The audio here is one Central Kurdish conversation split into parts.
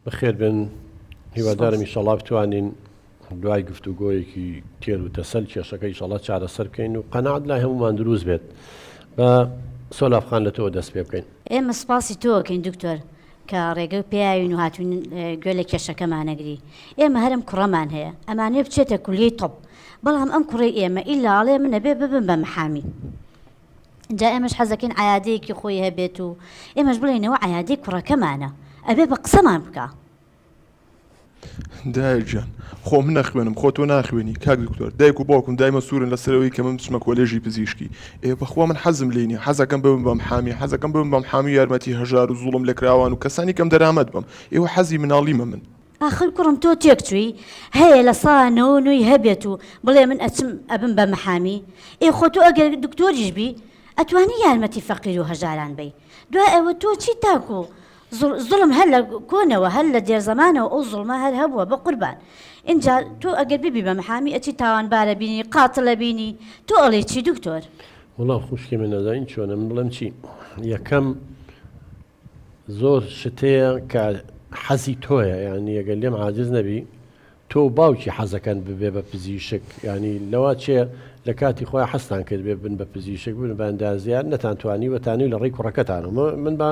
بەخێربێن هیوادارم ئیشەڵا بتوانین دوای گفتوگۆیەکی تێر و تەسەل کێشەکە ئیشەڵا چارەسەر بکەین و قەنات لای هەمومان دروست بێت بە سۆلافخان لە تۆ دەست پێ بکەین. ئێمە سپاسی تۆکەین دکتۆر کە ڕێگە پێیاوین و هاتوین گوێ لە کێشەکەمانەگری ئێمە هەرم کوڕەمان هەیە ئەمانێ بچێتە کولیەی طب بەڵام ئەم کوڕەی ئێمە ئیلا ئەڵێ منەبێ ببم بە محامی جا ئێمەش حەزەکەین عیادەیەکی خۆی هەبێت و ئێمەش بڵێنەوە عیادەی کوڕەکەمانە ئەبێ بە قسەمان بکە دایکجان خۆ من نەخوێنم خۆ تۆ ناخوێنی کاک دکتۆر دایک و باوکم دایمە سوورن لەسەرەوەی کە من بچمە کۆلێژی پزیشکی ئێ بەخوا من حەزم لینی حەزەکەم بم بەم حامی حەزەکەم بم بەم حامی یارمەتی هەژار و زوڵم لە کراوان و کەسانی کەم دەرامەت بم ئێوە حەزی مناڵیمە من ئاخر کوڕم تۆ تێک چووی هەیە لە سا نەوە نۆی هەبێت و بڵێ من ئەچم ئەبم بە محامی؟ ئێ خۆ تۆ ئەگەر دکتۆریش بی ئەتوانی یارمەتی فەقیر و هەژاران بەی دوای ئەوە تۆ چی تاکو زوڵم هەر لە کۆنەوە هەر لە دێرزەمانەوە ئەو زوڵمە هەر هەبووە بە قوربان ئینجا تۆ ئەگەر ببی بە محامی ئەچی تاوانبارە بینی قاتلە بینی تۆ ئەڵێ چی دکتۆر؟ وڵا خوشکی من نەزانین چۆنە من بڵێم چی یەکەم زۆر شت هەیە کە حەزی تۆیە یانی ئەگەر لێم عاجز نەبی تۆ و باوکی حەزەکەن ببێ بە پزیشک یانی لەوا چێ لە کاتی خۆیان حەزتان کرد بێ بن بە پزیشک بن بە ئەندازیار نەتان توانی وەتانی لە ڕێی کوڕەکەتانەوە من بە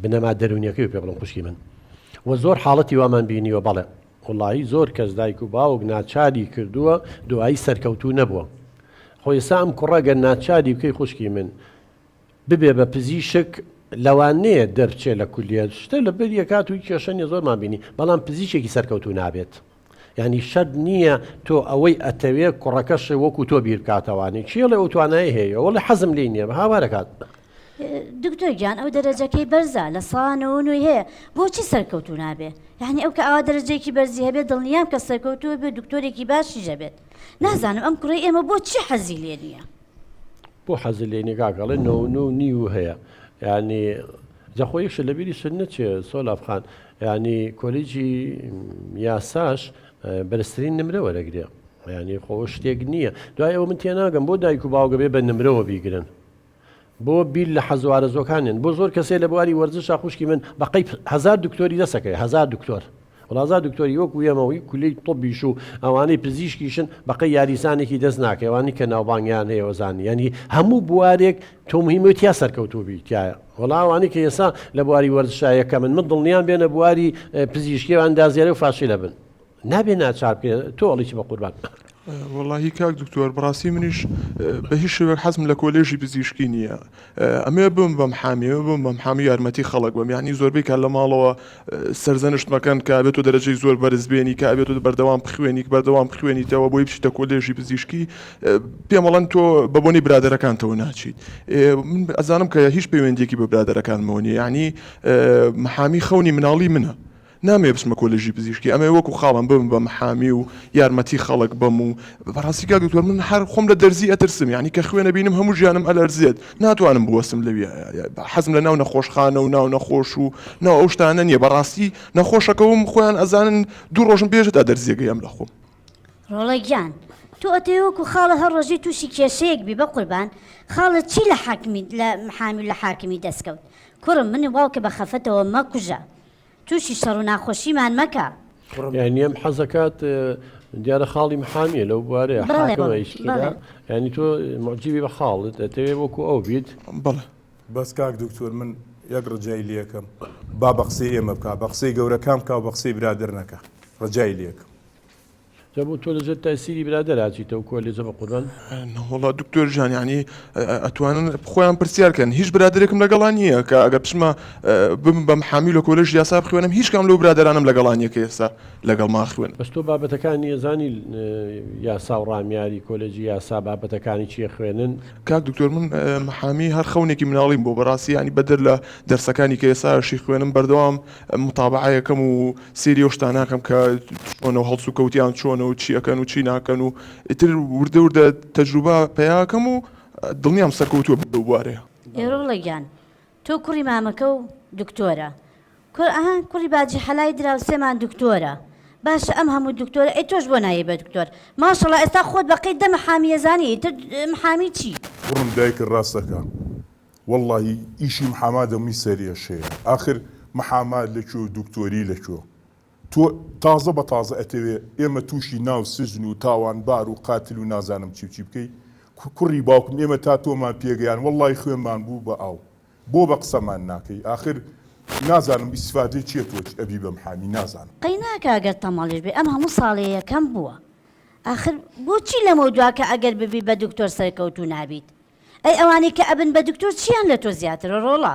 بنەما دەرونیەکەی پێ بڵم خوشکی من و زۆر حاڵەتی وامان بینیوە بەڵێ وڵایی زۆر کەس دایک و باوک ناچاری کردووە دوایی سەرکەوتوو نەبووە خۆ ئێستا ئەم کوڕە گەر ناچاری بکەی خوشکی من ببێ بە پزیشک لەوانەیە دەرچێ لە کولیەت شتە لەبەری ئەکات و کێشە نیە زۆرمان بینی بەڵام پزیشێکی سەرکەوتوو نابێت یانی شەرت نییە تۆ ئەوەی ئەتەوێ کوڕەکەشێ وەکو تۆ بیرکاتەوانی چێڵێ ئەو توانای هەیە وەڵی حەزم لی نییە هاوارەکات دکتۆر گیان ئەو دەرەجەکەی بەرزە لە سانەوە نوێی هەیە بۆچی سەرکەوتو نابێ یعنی ئەو کە ئاوا دەرەجەیەکی بەرزی هەبێت دڵنیام کە سەرکەوتووە بێ دکتۆرێکی باشی دەبێت نازانم ئەم کوڕی ئێمە بۆ چی حەزی لێ نییە بۆ حەزی لێ نیگاگەڵێ نۆ نۆ نیو هەیە ینی جەخۆ یەکشە لە بیری سن نەچێ سۆلافخان ینی کۆلیجی یاساش بەرزترین نمرە وەرەگرێ ینی خۆ شتێک نییە دوای ئەوە من تێناگەم بۆ دایک و باوگەبێ بە نمرەوە بیگرن بۆ بیل لە حەزوارە زۆکانێن بۆ زۆر کەسێ لە بواری وەرزشا خوشکی من بەقی هزار دکتۆری دەسەکەی هزار دکتۆر گوڵازار دکتۆری وەکو ئێمە و کولەی طوبیش و ئەوانەی پزیشکیشن بەقەی یاریزانێکی دەست ناکەی ئەوانەی کە ناوبانگیان هەیە وەزانی یانی هەموو بوارێک تۆ مهیمە تیا سەرکەوتوو بی تایە وەڵا ئەوانەی کە ئێسا لە بواری وەرزشا یەکەمن من دڵنیام بێنە بواری پزیشکی و ئەندازیاری و فاشلە بن نابێ ناچار بکرێن تۆ ئەڵی چی بەقوربان وەڵاهی کاک دکتۆر بەڕاستی منیش بە هیچ شێوەک حەزم لە کۆلێژی پزیشکی نییە ئەمەوێ بم بەم حامی ئەوێ بم بەم حامی یارمەتی خەڵک بم یانی زۆربەی کات لە ماڵەوە سەرزەنشت مەکەن کە ئەبێ تۆ دەرەجەی زۆر بەرز بێنی کە ئەبێ تۆ بەردەوام بخوێنی بەردەوام بخوێنیتەوە بۆی بچیتە کۆلێژی پزیشکی پێم بەڵێن تۆ بە بۆنەی برادەرەکانتەوە ناچیت من ئەزانم کە هیچ پەیوەندییەکی بە برادەرەکانمەوە نییە یانی محامی خەونی مناڵی منە نامەوێ بچمە کۆلێژی پزیشکی ئەمەوێ وەکو خاڵم ببم بە محامی و یارمەتی خەڵک بەم و بەڕاستی کاک دکتۆر من هەر خۆم لە دەرزی ئەترسم یانی کە خوێن ئەبینم هەموو ژیانم ئەلەرزێت ناتوانم بوەستم لەوی حەزم لە ناو نەخۆشخانە و ناو نەخۆش و ناو ئەو شتانە نیە بەڕاستی نەخۆشەکەوم خۆیان ئەزانن دوو ڕۆژم پێشت ئەدەرزیە گێم لە خۆم. ڕۆڵە گیان تۆ ئەتەوێ وەکو خاڵە هەر ڕۆژەی تووشی کێشەیەک بی بەقوربان خاڵە چی لە حاکمی لە محامی و لە حاکمی دەسکەوت کوڕم منی باوکە بە خەفەتەوە مەکوژە. توشی شەڕو ناخۆشیمان مەکە. یانی ئەم حەزەکات دیارە خاڵی محامیە لەو بوارەیە حاکمە ئیش کرا یانی تۆ معجیبی بە خاڵت دەتەوێ وەکو ئەو بیت بەڵێ. بەس کاک دکتۆر من یەک ڕجای لێکەم با بەقسەی ئێمە بکا بەقسەی گەورەکان بکاو بەقسەی برادەر نەکا ڕجای لێکم. جا بۆ تۆ لەژێر تایسیری برادەر ئاچیتەوە کۆلێجە بەقوربان. نەوەڵا دکتۆر جان یانی ئەتوانن خۆیان پرسیار کەن هیچ برادێکم لەگەڵان نییە کە ئەگە بچمە بم بەم حامی لە کۆلژ یاسا بخوێنم هیچ کام لەو برادرانم لەگەڵان یەکە ئێستا لەگەڵ ما خوێن بەس تۆ بابەتەکانی ئەزانی یاسا و ڕامیاری کۆلێجی یاسا بابەتەکانی چیە خوێنن کاک دکتۆر من محامی هەر خەونێکی مناڵیم بۆ بەڕاستی ینی بەدەر لە دەرسەکانی کە ئێساشی خوێنم بەردەوام متابەعە یەکەم و سەیری ئەو شتانە ئەکەم کە چۆنە و هەڵسوکەوتیان چۆنە و چی ئەکەن و چی ناکەن و ئیتر وردە وردە تەجروبە پەیا ئەکەم و دڵنیام سەرکەوتووە بم لەو بوارەیە. ئێرۆڵە گیان تۆ کوڕی مامەکە و دکتۆرە کورە ئەها کوڕی باجی حەلای دراوسێمان دکتۆرە باشە ئەم هەموو دکتۆرە ئەی تۆش بۆ نایەی بە دکتۆر ماشەڵا ئێستا خۆت بەقەی دە محامی ئەزانی ئیتر محامی چی. کوڕم دایکت ڕاست ئەکا. وەڵڵاهی ئیشی محاما دەمی سەر ئێشەیە ئاخر محاما لە کوێ و دوکتۆری لە کوێ؟ تۆ تازە بە تازە ئەتەوێ ئێمە تووشی ناو سجن و تاوانبار و قاتل و نازانم چی و چی بکەی کوڕی باوکم ئێمە تا تۆمان پێگەیاند وەڵڵاهی خوێنمان بوو بە ئاو بۆ بە قسەمان ناکەی ئاخر نازانم ئیستفادەی چیە تۆ ئەبی بە محامی نازانم. قەینا کە ئەگەر تەماڵیش بێ ئەم هەموو ساڵێ یەکەم بووە ئاخر بۆچی لەمەودوا کە ئەگەر ببی بە دکتۆر سەرکەوتوو نابیت؟ ئەی ئەوانەی کە ئەبن بە دکتۆر چیان لە تۆ زیاترە ڕۆڵە؟